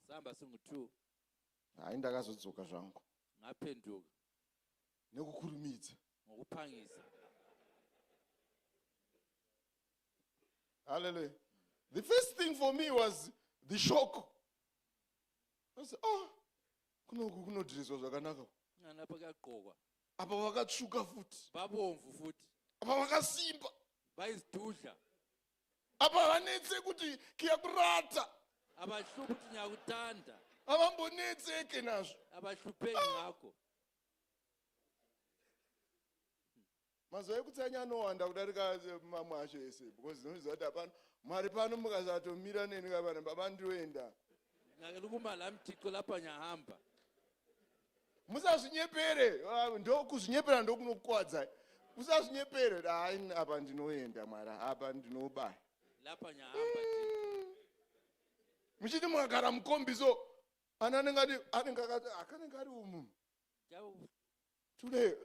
Samba song 2. Hayi ndakazodzoka zvangu. Ngapenduka. Nekukurumidza. Ngokupangisa. Hallelujah. The first thing for me was the shock. I said, oh, kunoku kunodhiriswa zvakanaka. Ana pakagqokwa. Apa vakatsvuka futi. Vabomvu futi. Apa vakasimba. Vaizidudla. apa havanetse kuti kiyakurata avahlupi kuti nyakutanda havambonetseke nazvo avahlupei ah! ngako mazuva ekutsanya anowanda kudarika eh, mamwe acho ese because ndinoziva kuti hapano mwari pano mukasatomira neni kavana baba ndiroenda nake likumalamtiko lapanyahamba musazvinyepere ah, ndokuzvinyepera ndokunokuwadzai usazvinyepere dai apa ndinoenda mwari apa ndinobaya muchiti mwakara mukombi so ana anenge ati anenge akati akanenge ari umu tule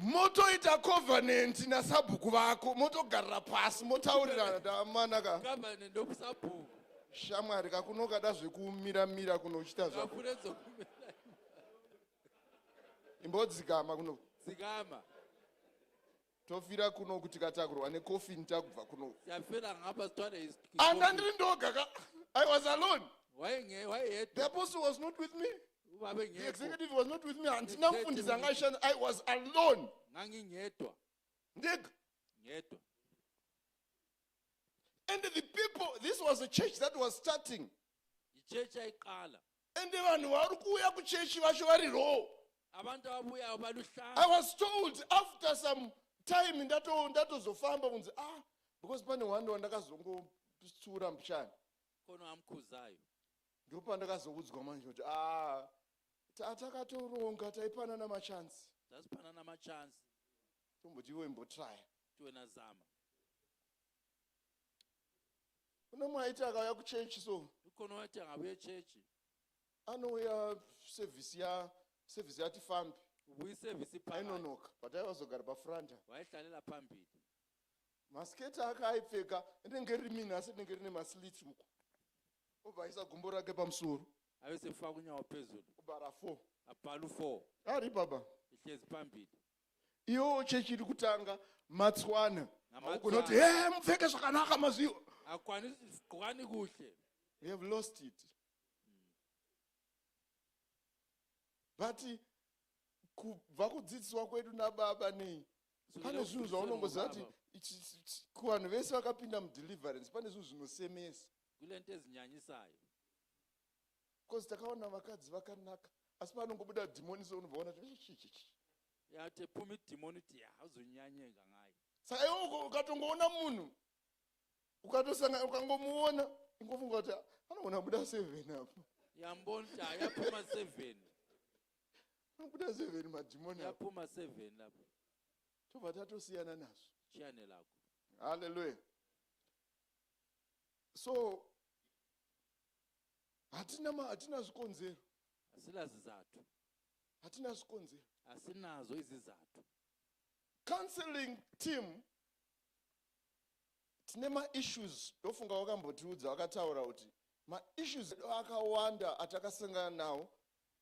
motoita covenant nasabhuku vako motogarira pasi motaurirana damanaka covenant ndokusabhuku shamwari kakunokada zvekumiramira kuno uchita zvako imbodzikama kuno dzikama tofira kuno kuti katakurwa necoffin takubva kuno Yafira ngapa stwana is. anga ndiri ndoga ka i was alone Why nge why the yet? apostle was not with me Ubabe the ngekho. executive was not with me handina Executive. mfundisi anga aishanda i was alone Ngangi ngedwa. ndega Ngedwa. and the people this was a church that was starting Ichurch ayiqala. ende vanhu vari kuuya kuchechi vacho vari roo abantu ababuyayo baluhlaza i was told after some time ndato- ndatozofamba kunzi ah because pane one wandakazongotsura mbichana kono amukhuzayo ndopandakazoudzwa manje kuti ah ta- takatoronga taipanana machansi tasipanana machansi tomboti iwe imbotraya tiwe nazama kune mumwe aiti akauya kuchechi so ikono wati angavuye chechi anouya sevhisi ya sevhisi yati fambi ubuyi sevhisi paa ainonoka but aivazogara pafranta waihlanela pambili masiketi ake aipfeka inenge riri mini asi rinenge rine maslits uko obva aisa gumbo rake pamusoro aise fakunyawo pezulu obva rafo apalu four ari baba ihlezi pambili iyowo chechi iri kutanga matswana haugona kuti he mupfeke zvakanaka mazviwa hakwani kuhle we have lost it but kubva kudzidziswa kwedu nababa nei pane zvinhu zvaunongoziva kuti kuvanhu vese vakapinda mudeliverance pane zvinhu zvinosemesa kule nto ezinyanyisayo because takaona vakadzi vakanaka asi paanongobuda dhimoni so unobva ona yatepumi dhimoni ti hauzonyanye kangai saka iwe ukatongoona munhu ukatosanga ukangomuona ingofunga kuti anoona buda seven apo yambonti hayapuma seven anobuda seven madhimoni yapuma seven apo tobva tatosiyana nazvo chiane lako halleluya so hatina ma hatina zvikonzero asina zizatu hatina zvikonzero asinazo izizatu counseling team tine maissues ndofunga wakambotiudza wakataura kuti maissues edu akawanda atakasangana nawo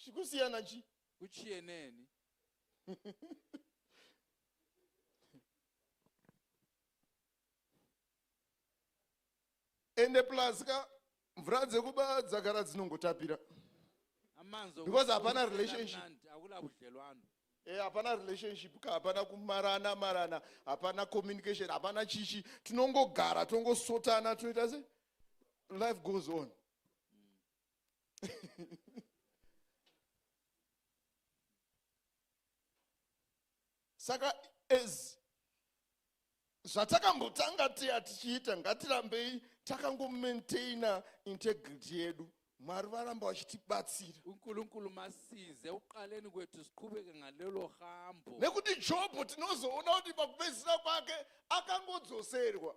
zvikusiyana chi kuchie neni ende plus ka mvura dzekuba dzagara dzinongotapira amanzi Because hapana relationship. akuna budlelwano Eh, hapana relationship ka hapana kumarana marana hapana communication hapana chichi tinongogara tongosotana toita se life goes on saka as zvatakambotanga tiya tichiita ngatirambei takangomaintaina integrity yedu mwari varamba vachitibatsira unkulunkulu masize uqaleni kwethu siqhubeke ngalelo hambo nekuti jobho tinozoona kuti pakupedzisira kwake akangodzoserwa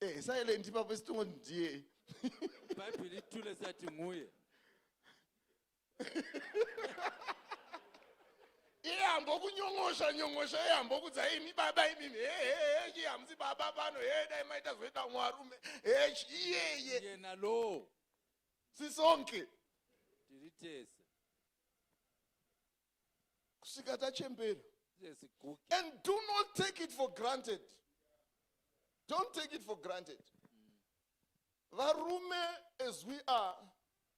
Eh, silent ipapo isitongo ndiye. Bhaibheri tule sati nguye. iye ambokunyong'osha nyong'osha iye ambokudza imi baba imimi hehehe iye hamusi baba pano he dai maita zoita umwe arume he iyeye yena lo sisonke tiri tese kusvika tachembera and do not take it for granted don't take it for granted varume as we are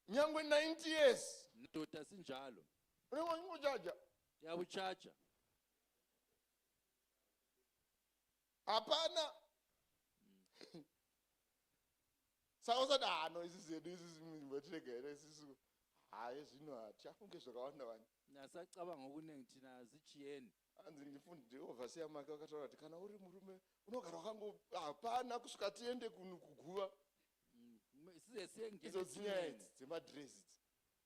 nyangwe 90 years ndoda sinjalo unengochaja yakuchaja hapana saka usati hano ah, isi zedu isisimbatirega isisu haye zvino hatichafunge zvakawanda wani nasacabanga kunenge tina zichiyeni hanzi ndifundi ovhasiya make vakataura kuti kana uri murume unogara wakango hapana kusvika tiende kuguva mm, izodzinyaya idzi dzemadress idzi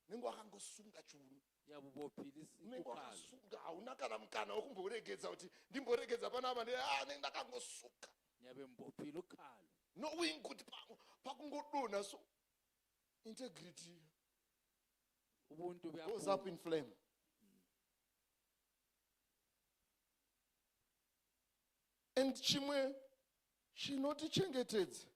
nenge wakangosunga chiuno unenge wakasunga hauna kana mukana wekumboregedza kuti ndimboregedza panapa nde ah, nenge ndakangosuka knowing kuti pakungodonha so integrity goes up in flame and chimwe chinotichengetedza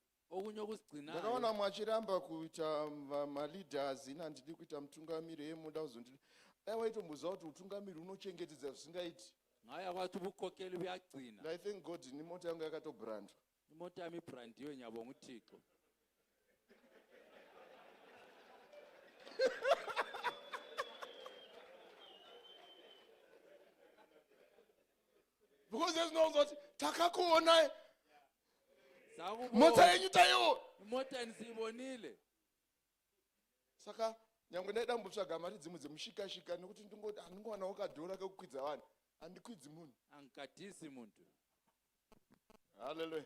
ndakaona mwachiramba kuita maleaders ini handidi kuita mutungamiri ye muda kuzondi dai waitomboziva kuti utungamiri unochengetedza zvisingaiti i thank god ini mota yangu yakatobrandwa Imotami brand yo nyabo ngutixo. because there's no zoti takakuonai mota yenyu taiwo mota ndizivonile saka nyangwe ndaida kumbotsvaga mari dzimwe dzemushikashika nekuti ndingoti handingowanawo kadhora kekukwidza vanhu handikwidzi munhu angikadhisi muntu haleluya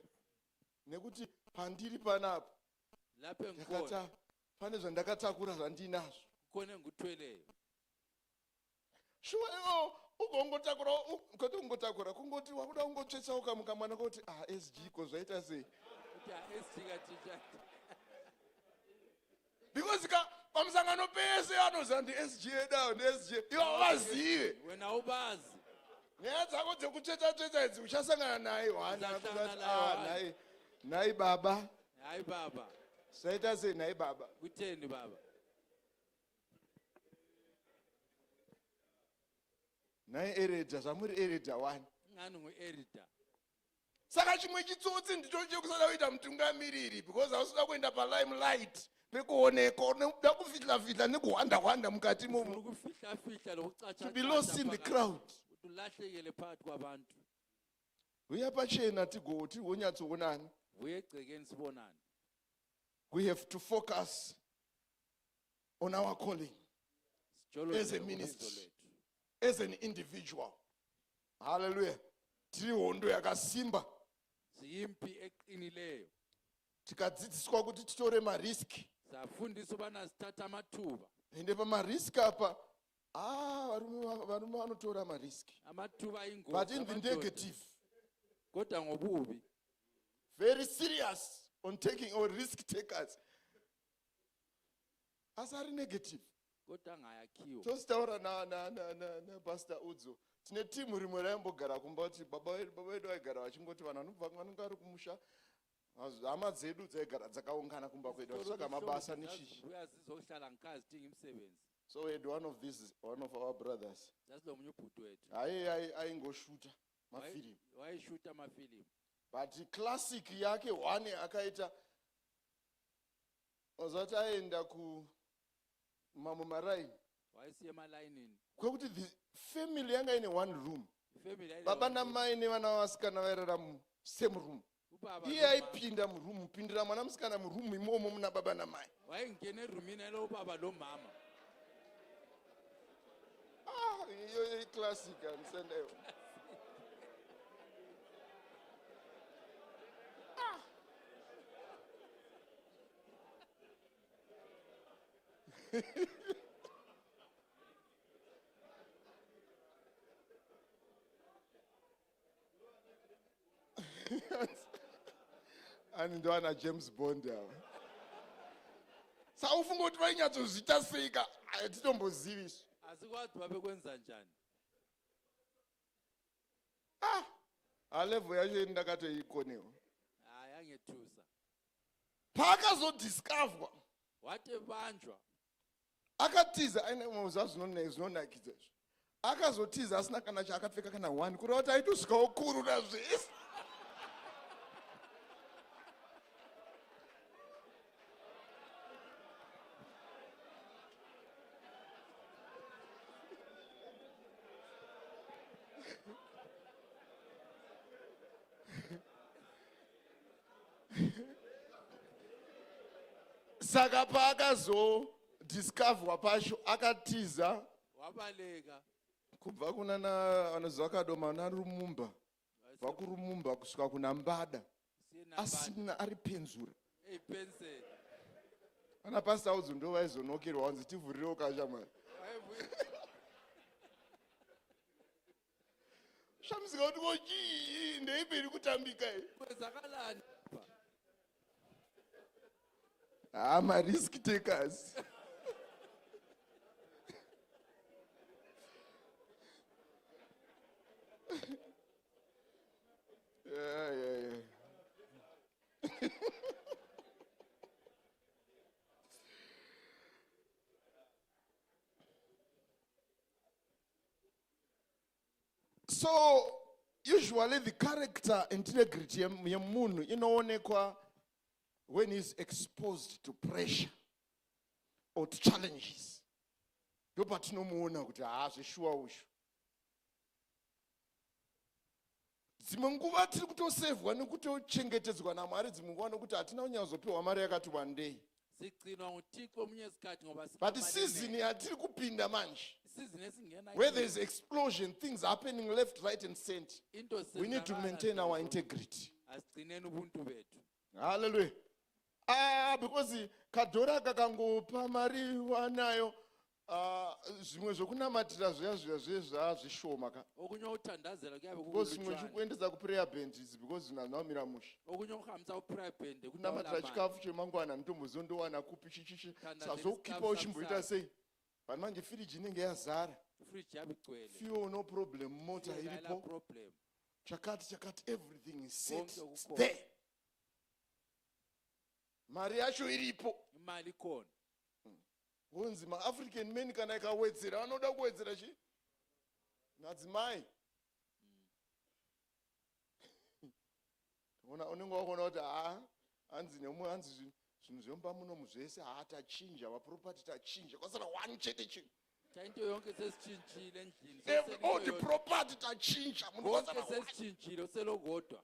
nekuti pandiri panapa lapengkona pane zvandakatakura zvandinazvo kone ngutweleyo shuwa iwo ugongotakura koti ungotakura kungoti wakuda kungotsvetsa ukamuka mwana koti ah sg ko zvaita sei because ka pamusangano pese anoziva ndisga dao ndisga ivo vazive wena haubazi nyaya dzako dzekutsveta tsveta idzi uchasangana naye wanai nhai baba nhai baba saita sei nhai baba kuteni baba nhai ereda zvamuri ereda wani ngani muerida saka chimwe chitsotsi ndicho chekusada kuita mutungamiriri because hausuda kuenda palime light pekuoneka unoda kufihla fihla nekuhwanda hwanda mukati mokufihla fihla nokucacha be lost in the crowd kuti ulahlekele phakathi kwabantu huya pachena tigoti wonyatsoonani huye egcekeni sibonane we have to focus on our calling as a ministry as an individual haleluya tiri hondo yakasimba ziyimpi eqinileyo tikadzidziswa kuti titore mariski safundiswa vana zithatha amathuba ende pamariski apa ah, varume va- varume vanotora mariski amathuba ingozi but in the amadoda. negative kodwa ngobubi very serious on taking or risk takers asi ari negative Kotanga yakiwa. Tositaura na na na na, na Pastor Udzo. Tine team rimwe raimbogara kumba kuti baba wedu baba wedu vaigara vachingoti vanhu vanobva vanonga ari kumusha hama dzedu dzaigara dzakaungana kumba kwedu vachitsvaga mabasa nechichi. Uyazizohlala nkazi tingi msebenzi. So we had one of these one of our brothers. That's the munyuputu wetu. Aye aye aingoshuta mafilm. Why shuta mafilm? But classic yake one akaita Ozati aenda ku mamwe maraini waisiye malaini ini kwekuti the family yanga ine one room family yaida baba vanhu. namai nevana vavasikana vairara mu same room Ubaba iye ndomama. aipinda muroom kupindira mwana musikana muroom imomo muna baba namai waingene rumina ilo ubaba lomama Ah, iyoyo iclassic andisendaiwo ani ndoana james bond ava saufunga kuti vainyatsoziita seika hatitombozivi isu asi kwati vave kuenza njani ah alevo yacho ini ndakatoikonewa ah, yange tusa paakazodiscoverwa watevanjwa akatiza ainemaza zvinonakidza izvo akazotiza asina kana chaakapfeka kana one kureva kuti aitosvikawo kuru nazvese saka paakazodiscoverwa pacho akatiza wabaleka kubva kuna anoziva kadoma narumumba kubva kurumumba kusvika kuna mbada asina ari penzura ana pasita udzo ndo vaizonokerwa wanzi tivhurirewo kashamwari zvamusingauti ko chii ndeipi iri kutambika haa ah, marisk takers yeah, yeah, yeah. so usually the character and integrity yemunhu inoonekwa when he's exposed to pressure or to challenges ndo patinomuona kuti haa zveshuwa ushu dzimwe nguva tiri kutosevhwa nekutochengetedzwa namwari dzimwe nguva nokuti hatina kunyatsozopiwa mari yakati wandei zigcinwa nguthixo omunye isikhathi ngoba but season yatiri kupinda manje isizini esingena where there is explosion things happening left right and cent into we need to maintain our integrity asigcineni ubuntu bethu halleluya ah because kadhora kakangopa mari wanayo Ah, zvimwe zvokunamatira zviya zviya zviye zvaazvishoma ka okunye uthandazela kuyabe because zvimwe kukulutshwane zvikuendesa kuprayer band is because zvina zvinamira mushe okunye ukuhambisa kuprayer band kunamatira chikafu chemangwana handitomboziva ndowana kupi chichichi Kana sazokukipa zvichikafu uchimboita samsari. sei vanhu manje firiji inenge yazara fridge yabe igcwele fuel no problem mota Fuel haina iripo problem chakati chakati everything is set Konke it's kukhona. there mari yacho iripo imali ikhona Wonzi ma African men kana ikawedzera vanoda kuwedzera chi? Madzimai. Ona unenge wakona kuti ha hanzi nemwe hanzi zvinhu zvinhu zvemba muno muzvese ha tachinja wa property tachinja kwasara one chete chinhu. Tainto yonke sesichinjile ndlini. All the property tachinja munhu kwasara. Sesichinjile selogodwa.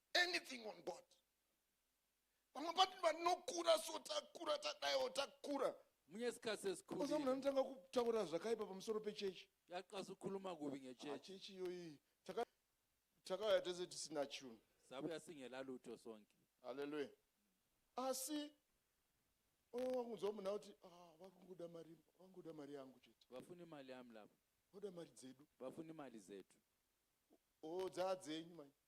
anything on board vamwe pati vanokura so takura tadaiwo takura munye sikasesikhulile munhu anotanga kutaura zvakaipa pamusoro pechechi yaqasa ukukhuluma kubi ngechechi ah, chechi iyoyi takauya tese tisina chunhu sabuya singela lutho sonke halleluya asi oh, wakunzwa munhu akuti ah, vakungoda mari vangoda mari yangu chete vafuni mali yami lapa voda mari dzedu vafuni mali zedu o oh, dzaa dzenyu manje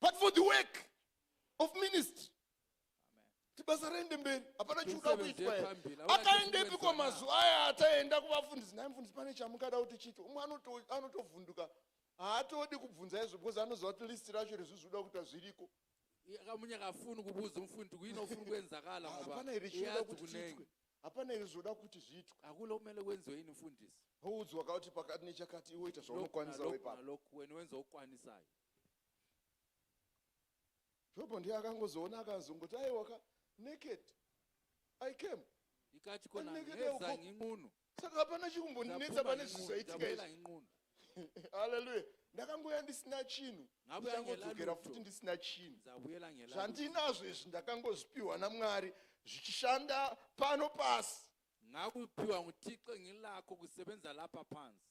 but for the work of ministry kuti basa raende mberi hapana chikuda kuitwa akaendepi kwa mazuva aya ataenda kuvafundisi nhai mfundisi pane chamukada kuti chito umwe anotovhunduka haatodi kubvunza izvo because anoziva kuti list racho rezvizvikuda kuita zviriko akamunya akafuni kubuza umfundi kuino ufuni kwenzakala hapana iri chinoda kuti zviitwe hapana iri zvoda kuti zviitwe akule umele wenziwe yini mfundisi houdzwa kauti pakati nechakati iwe ita zvaunokwanisa wepaaloku weni wenza ukwanisayo jobho ndiye akangozoona akazongoti aiwa ka naked i came ikati kona Anenge dai nezanyi uko- ng'unu saka hapana chikumbondinetsa pane zvizaitika izvi ng'unu haleluya ndakangouya ndisina chinhu Ngabe ndichangodzokera angela futi luto. ndisina chinhu ndabuyela ngela zvandinazvo izvi ndakangozvipiwa namwari zvichishanda pano pasi ngakupiwa nguthixo ngilakho kusebenza lapha phansi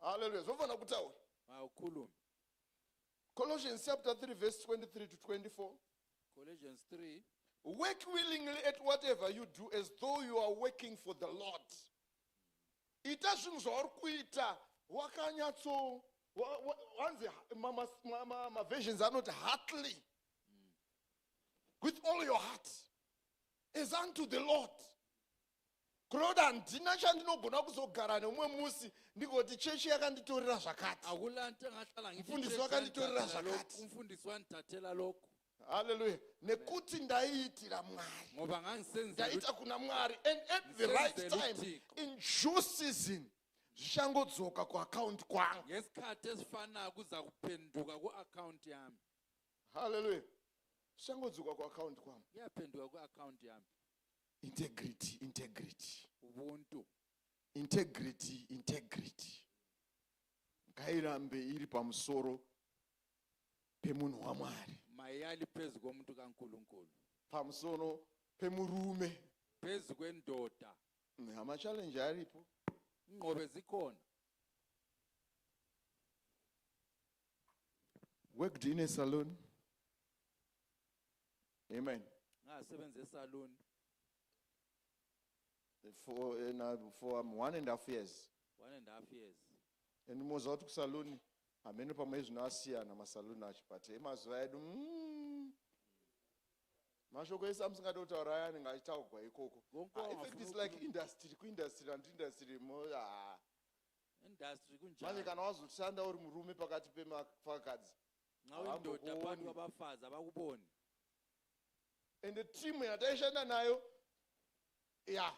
haleluya zvofanira kutaura maukulu colossians chapter 3 verse 23 to 24 colossians 3 work willingly at whatever you do as though you are working for the lord ita zvinhu zvauri kuita wakanyatso hanzi maversions anoti heartly with all your heart as unto the lord Claude handina chandinogona kuzogara neumwe musi ndigoti chechi yakanditorera zvakati. Mfundisi wakanditorera zvakati. Mfundisi wanditathela lokhu. Hallelujah. Nekuti ndaiitira Mwari. Ndaita kuna Mwari and at the right time in due season zvichangodzoka kuaccount kwangu. Ngesikhathi esifanako kuza kuphenduka kuaccount yami. Hallelujah. Zvichangodzoka kuaccount kwangu. Iyaphenduka kuaccount yami. integrity integrity ubuntu integrity integrity ngairambe iri pamusoro pemunhu wamwari mayali phezu komuntu kankulunkulu pamusoro pemurume phezu kwendoda amachallenji aripo inqobe zikhona worked in a salon amen ngaasebenze esaloon for, uh, for um, one and half years one and half years and moziva kuti kusaluni hameno pamwe zvino asiyana masaluni acho but emazuva edu mm, mashoko ese amusingade kutaura aya anenge achitaugwa ikoko ah, effect is like industry kuindustry and industry mo ah. industry kunjani manje kana wazoshanda uri murume pakati pemafakadzi nxawe ndoda pano vabafaza vakuboni ende timu yataishanda nayo ya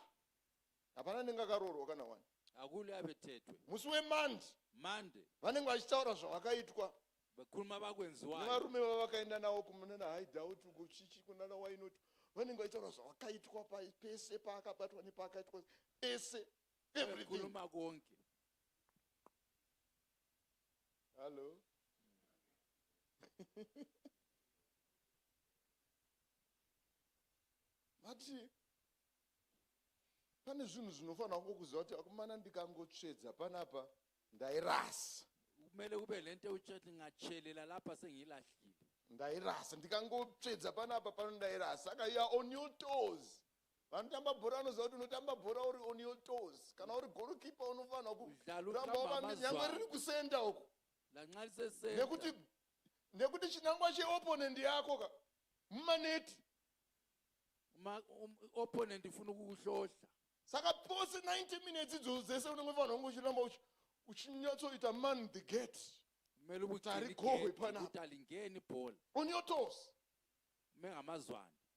hapana anenge akaroorwa kana wani akule ave tetwe musi wemandi mande vanenge vachitaura zvavakaitwa vakuruma vakwenziwa nevarume vavakaenda nawo kumunana haidhauti uko chichi kunana wainoti vanenge vachitaura zvavakaitwa pese paakabatwa nepaakaitwa pese everything konke hallo vati pane zvinhu zvinofanira kungo kuziva kuti akomana ndikangotsvedza panapa ndairasa kumele kube le nto ewutshethi ngatshelela lapha sengiyilahlile ndairasa ndikangotsvedza panapa pano ndairasa saka you are on your toes vanotamba bhora vanoziva kuti unotamba bhora uri on your toes kana uri golokipa unofanira kuramba wava nyangwe riri kusenda uko nekuti nekuti chinangwa cheopponent yako ka mumaneti um, opponent ifuna kukuhlohla saka pose 90 minutes idzo dzese unenge fanira kunge uchiramba uchinyatsoita man the gate kumele ukuthi aligohwe phana ukuthi alingeni ibhola on your toes mengamazwane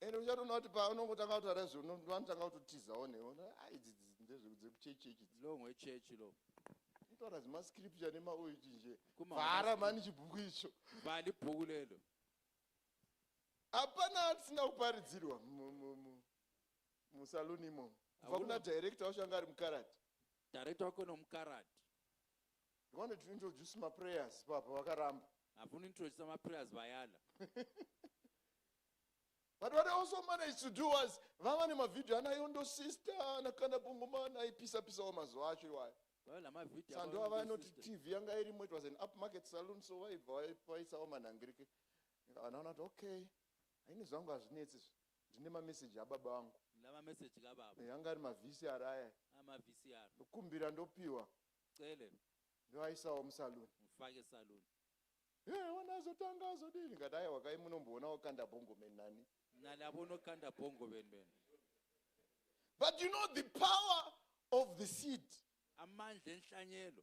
and uchatoona kuti paunongotanga kutaura izvo vanotanga kutotizawo newe ah, idzi ndezvekuchechi chechi long wechechi lo kutaura zimascripture nemaoiti nje vhara mani chibhuku icho vhali bhuku lelo hapana atisina kuparidzirwa musaluni imomo kubva kuna director wacho anga ari mukarati director wako nomukarati Ndivane to introduce ma prayers papa vakaramba. Havuni introduce ma prayers vayana. But what I also managed to do was vava nemavideo ana yondo sister nakana bungumana aipisa pisa wa mazuva acho iwayo. Sando ava anoti TV yanga irimo it was an upmarket saloon so vaibva vaipisa wa manhangirike. Vanaona kuti okay haini zvangu hazvinetsi izvi ndine mameseji ababa vangu ndava meseji kababa yanga ari mavhisi araya amavhisi aro ndokumbira ndopiwa Cele. Ndoaisawo musaloon. Mufake saloon. He wana azotanga azodii ndikati aiwa kai munomboona wakanda bongo men nani. Nani avo unokanda bongo men men. But you know the power of the seed. Amandla enhlanyelo.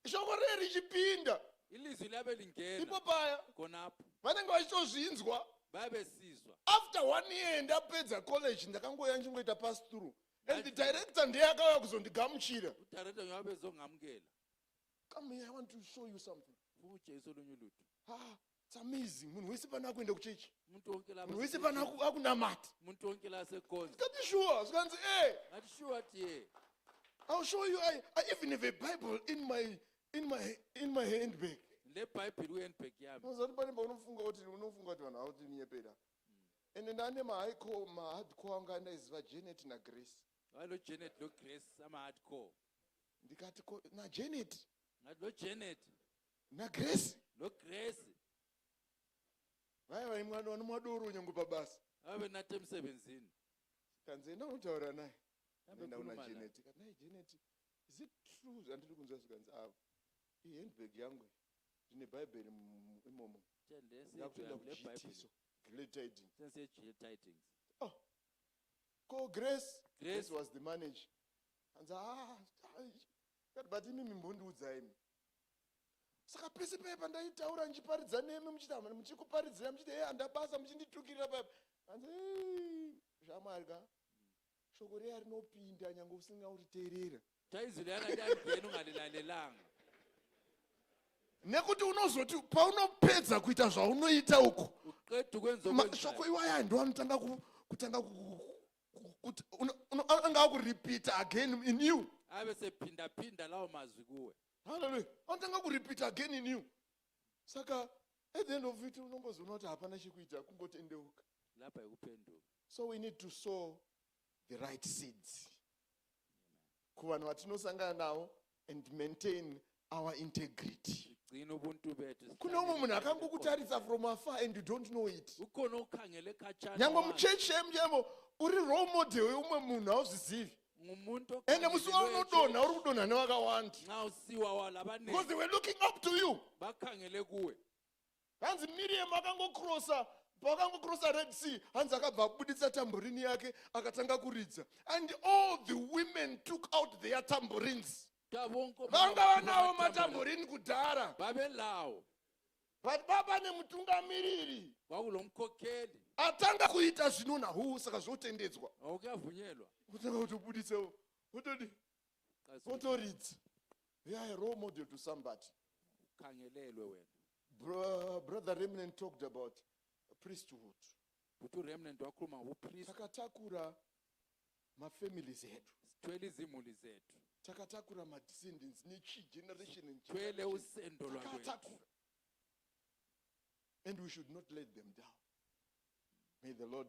Shoko riye richipinda. Ilizwi liyabe lingena. Ipo paya. Konapho. Vanenge vachitozvinzwa. Babesizwa. After one year ndapedza college ndakangoya ndichingoita pass through. and the director ndiye akauya kuzondigamuchira Director nyova bezongamukela. come here i want to show you something Fumu chaiso lunyu lutu. ah, it's amazing munhu wese pana akuenda kuchechi Muntu onke la munhu wese pana aku- akunamata Muntu onke la sekonzi. zikati shuwa zvikanzi e Ngati shuwa tiye. i'll show you I, i even have a bible in my, in my, in my handbag Le Bible uye handbag yami. unozati pane paunofunga kuti unofunga kuti vanhu ava kuti minyepera ende ndane mahaiko mahardcore anga andaiziva janet nagrace vaindo janet nograce amahardcore ndikati ko najanet ngati nojanet nagrace nograce vaya vaimwana vanomwa doro nyange pabasa vave nate musevenzini kanzi enda unotaura naye enda una janet kati naye janet is it true zvandiri kunzwa zvikanzi avo ihandbag yangu Ndine bhaibheri imomo. Ndakutoenda kujiitiso. Glad tidings. Sense yeglad tidings. Oh. Ko Grace. Grace, Grace was the manager. Hanzi ah, ah but imi mimbondiudza imi. Saka pese paya pandaitaura ndichiparidza nemi muchita muchikuparidzira muchiti hey andabasa muchinditukirira paya. Hanzi hey, zvamwari ka. Shoko reya rinopinda nyange usinga uriteerera. Taizile akati angeni ungalilalelanga. nekuti unozoti paunopedza kuita zvaunoita uko Uqeda ukwenza mashoko okwenzayo. iwaya ndo anotanga ku- kutanga ku- ku- ku- kuti uno- uno- anga akuripita again in you Abe sephinda phinda lawo mazwi kuwe. haleluya anotanga kuripita again in you saka at the end of it unongozoona kuti hapana chekuita kungotendeuka Lapha yikuphenduka. so we need to sow the right seeds kuvanhu vatinosangana navo and maintain our integrity kune umwe munhu akangokutaridza from afar and you don't know it nyange muchechi emuyemo uri role model yeumwe munhu hauzvizivi ende musi waunodonha uri kudonha nevakawanda because they were looking up to you hanzi miriam akangokrosa paakangokrosa red sea hanzi akabva abuditsa tamborini yake akatanga kuridza and all the women took out their tamborines vanga vanawo matamborini kudhara vavelawo but baba nemutungamiriri waulo mkokeli atanga kuita zvinonahuu saka zvotendedzwa aukavhunyelwa kutanga kutobuditsawo otodi votoridza they are a role model to somebody khangelelwe wena Bro, brother remnant talked about priesthood kuti uremnant wakhuluma upriest takatakura mafamilies edu sithwele izimuli zethu takatakura madescendants nechi generation and thwele generation. usendo lwakwethu Takatakura. and we should not let them down may the lord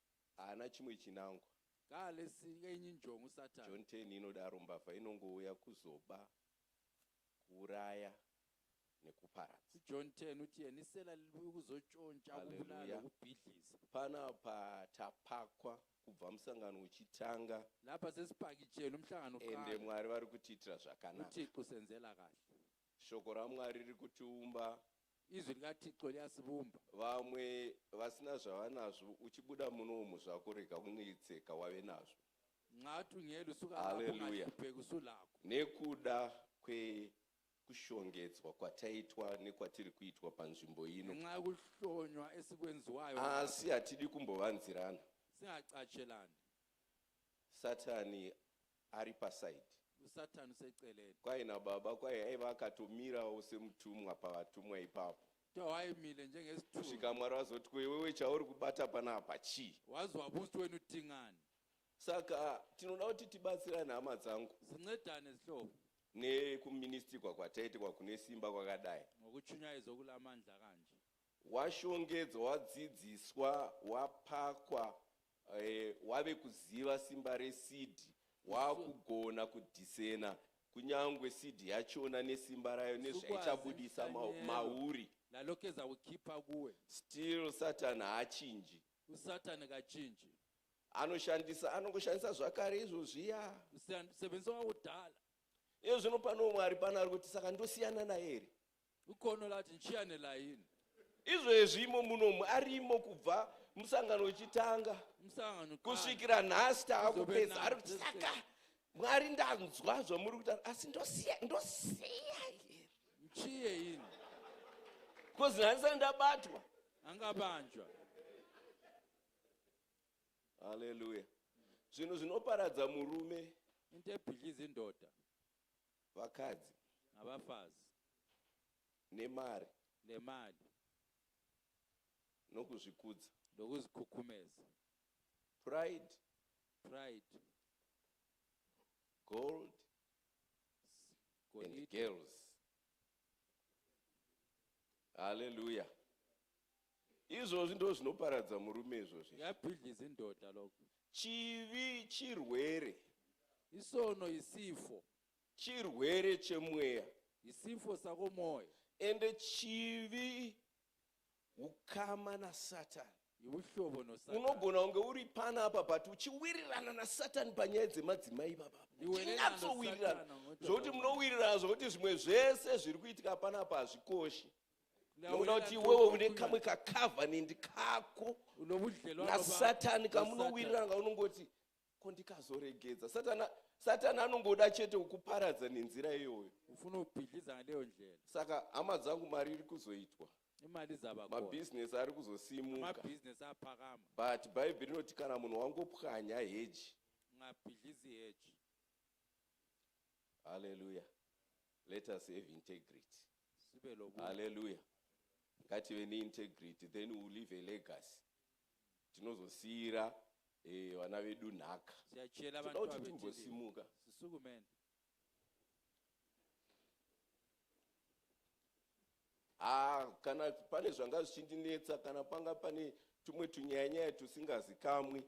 Haana chimwe chinangwa. Kaa lesi kenyu njon'u satan. John ten inodaro mbavha inongouya kuzoba, kuuraya nekuparadza. John ten uti yeni sela liliuya kuzoconca, kubulala Hallelujah. nekubhidliza. Panapa tapakwa kubva musangano uchitanga Lapha sesipakitshele umhlangano ende uqale. Mwari vari kutiitira zvakanaka. UThixo usenzela kahle. Shoko raMwari riri kutiumba. Izwi rikaThixo liyasivumba. Vamwe vasina zvavanazvo, uchibuda muno umu zvako, rega kunetseka, wave nazvo. Nxa tungelu suka lapho, Haleluya. ungahlupeki usulakho. Nekuda kwekushongedzwa kwataitwa nekwatiri kuitwa panzvimbo ino, Ngenxa yokuhlonywa esikwenziwayo lapha, asi hatidi kumbovanzirana. singacatshelani. Satani ari paside. Usatan useceleni. Kwahi nababa kwahi aiva akatomirawo semutumwa pavatumwa ipapo. Too aimile njengesitunha. Kusvika Mwari vazoti ko iwewe chauri kubata panapa chii? Wazwa boost wenu tingani. Saka tinoda kuti tibatsirane hama dzangu. Sincedane zihlobo. Nekuministikwa kwataitikwa kune simba kwakadai. Ngokuchunyaidzwa kule amandla kanje. Washongedzwa, wadzidziswa, wapakwa Eh, wave kuziva simba reseed waakugona kudhisena kunyangwe seed yachona nesimba rayo nezvaichabudisa mauri nalokeza ukipa kuwe still satan haachinji usatan kachinji anoshandisa anongoshandisa zvakare izvozviya usebenzisa wakudhala iye zvino pano mwari pano ari kuti saka ndosiyana naye here Ukono lati nchiyane layini. Izvezvi imo munomu arimo kubva musangano uchitanga kusvikira nhasi taakupedza ari kuti saka mwari ndanzwa zvamuri kuita asi ndosiya ndosiya here mchiye ini bcause nhasi sani ndabatwa angabanjwa haleluya zvinhu zvinoparadza murume into ebhidliza indoda Vakadzi. Navafazi. Nemari. Nemali. Nokuzvikudza. Nokuzikhukhumeza. Pride. Pride. Gold. Golide. And girls. Hallelujah. Izvozvi ndo zvinoparadza murume izvozvi. Ya bhidli zindoda loko. Chivi chirwere. Isono isifo. Chirwere chemweya. Isifo sako moyo. Ende chivi ukama na Satan. Ibuhlobo no Satan. Unogona unge uri pana apa but uchiwirirana na Satan panyaya dzemadzimai baba. Tinatsowirirana. Zvokuti munowirirana zvokuti zvimwe zvese zviri kuitika pana apa hazvikoshi. unoti iwewe une kamwe kacovenant kako nasatani kamunowirirana kaunongoti ko ndikazoregedza satani satani anongoda chete kukuparadza nenzira iyoyo ufuna kupidliza naleyo ndlela saka hama dzangu mari iri kuzoitwa imali dzamabhizinesi ari kuzosimukabhizinesi apakama but bhaibheri rinoti kana munhu wangopwanya heji ngapidlizi heji haleluya Let us have integrity. Hallelujah. Ngative neintegrity then we leave a legacy. Tinozosiira eh, vana vedu nhaka. Tinoda kuti timbosimuka. Ah, kana pane zvanga zvichindinetsa kana panga pane tumwe tunyayanyaya tusingazikamwi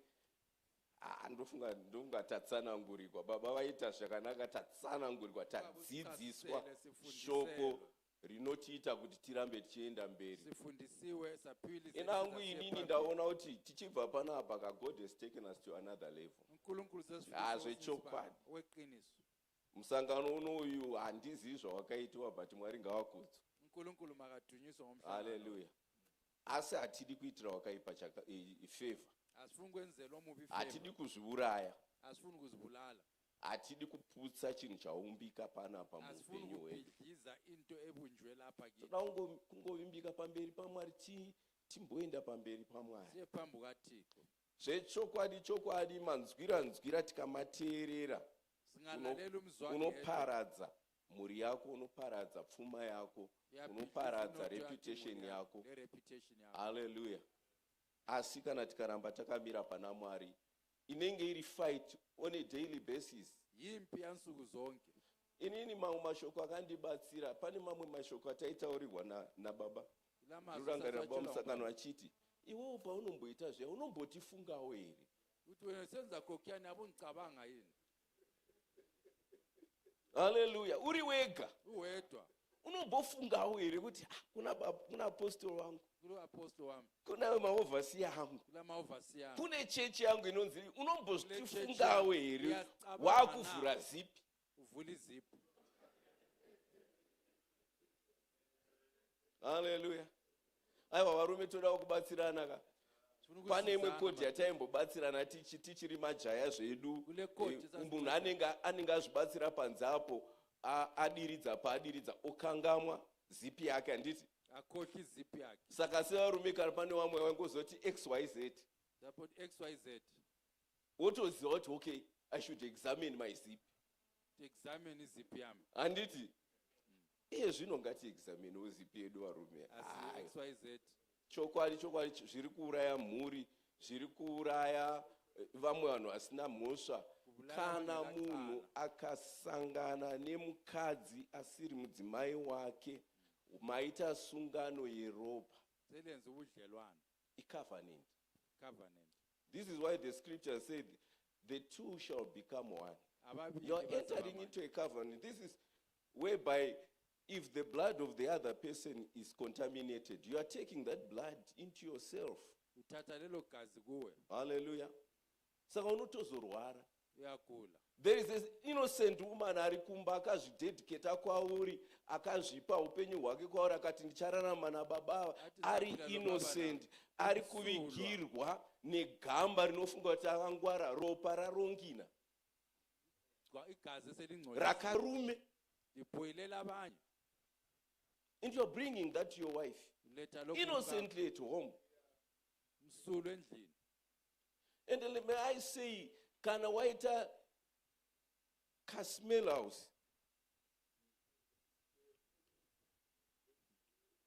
Ah, ndofunga ndofunga tatsanangurikwa baba vaita zvakanaka tatsanangurikwa tadzidziswa shoko rinotiita kuti tirambe tichienda mberi ena hangu inini ndaona kuti tichibva panapa ka god has taken us to another level ah, zvechokwadi musangano unoyu handizivi zvawakaitiwa but mwari ngavakudzwa haleluya Asi hatidi kuitira wakaipa chaka, e, e, favor. Asifuni kwenzelwa mubi favor. Hatidi kuzviuraya. Asifuni kuzibulala. Hatidi kuputsa chinhu chaumbika panapa muupenyu hwedu. into ebunjwe lapha kini. Toda kungovimbika pamberi paMwari ti timboenda pamberi paMwari. Siye phambi kaThixo. Zvechokwadi chokwadi manzwira nzwira tikamateerera unoparadza mhuri yako unoparadza pfuma yako unoparadza reputation yako haleluya asi kana tikaramba takamira pana mwari inenge iri fight on a daily basis yimpi yansuku zonke inini mamwe mashoko akandibatsira pane mamwe mashoko ataitaurirwa na, nababa rurangarira baba musangano achiti iwewo paunomboita zviya unombotifungawo here kuti wena senza kokyani avo ngicabanga yini haleluya uri wega uwedwa unombofungawo here kuti ah, kuna baba kuna apostol wangu kuri apostol wangu kuna maovhasi yangu kula maovhasi yangu kune chechi yangu inonzi Kune unombofungawo chechi here uyacabanga wakuvhura na. zipi uvhuli zipi haleluya aiwa varume todawo kubatsirana ka pane imwe kodhi yataimbobatsirana tichiri majaya zvedu eh, munhu anenge azvibatsira panze apo adiridza paadiridza okangamwa zipi yake handiti akoki zipi yake saka sevarume kana pane vamwe vangozoti xyz xyz wotoziva kuti okay i should examine my zipi examine zip yami handiti iye zvino ngati examine zip yedu varume chokwadi chokwadi zviri kuuraya mhuri zviri kuuraya eh, vamwe vanhu vasina mhosva kana munhu akasangana nemukadzi asiri mudzimai wake maita sungano yeropa selenze ubudlelwano icovenant covenant this is why the scripture said The two shall become one. Havaviri You are vazova entering mwana. into a covenant. This is whereby if the blood of the other person is contaminated, you are taking that blood into yourself. Kutata lelo gazi kuwe Hallelujah. Saka unotozorwara. uyakula. There is an innocent woman ari kumba akazvidedicata kwauri, akazvipa upenyu hwake kwauri akati ndichararama nababa ava. Ati ari ndapinda nababa innocent. ari kuvigirwa negamba rinofunga kuti akangwara ropa rarongina igazi selingcwele rakarume ibhoyilela abanye and you're bringing that to your wife innocently at home msulu endlini and let me i say kana waita casmel house